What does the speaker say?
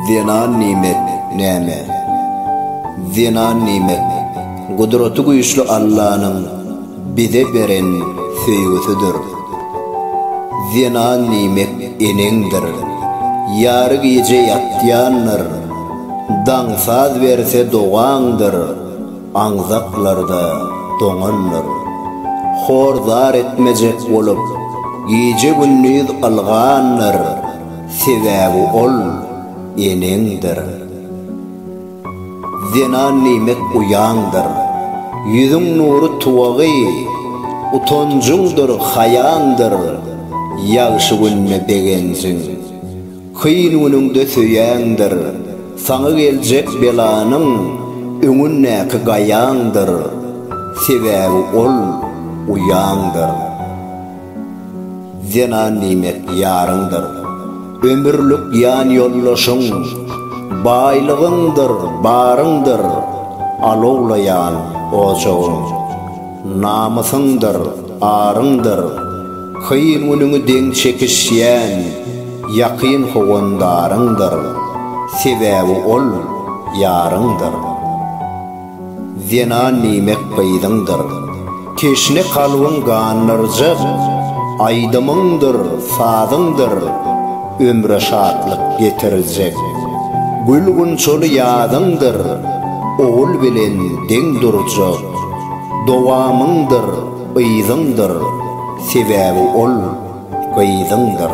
Zenan nimet, näme? Zenan nimet, Gudraty güýçli Allanyň bize beren söýgüsidir. Zenan nimet eneňdir. Ýary gije ýatýandyr. Daň saz berse dogaňdyr. aňzaklarda doňandyr. Hor zar etmejek bolup, gije-gündiz ylgandyr, sebäbi ol eneňdir. Zenan niýmek uýaňdyr, ýüzüň nury tuwagy, utanjyňdyr, haýaňdyr, ýagşy günde begenjiň. Kyn günüňde söýeňdir, saňa geljek belanyň öňündäki gaýaňdyr, sebäbi ol uýaňdyr. Zenan diýmek ýaryňdyr, ömürlik ýanýoldaşyň, baýlygyňdyr, baryňdyr, alowlaýan ojagyň, namysyňdyr. Aryňdyr, kyn günüňi deň çekişýän ýakyn howandaryňdyr, sebäbi ol, ýaryňdyr. Zenan nimek gyzyňdyr, teşne kalbyň gandyrjak, aýdymyňdyr, sazyňdyr, ömre şatlyk getirjek. Gül-gunçaly ýazyňdyr, ogul bilen deň durjak. Dowamyňdyr yzyňdyr, sebäbi ol gyzyňdyr.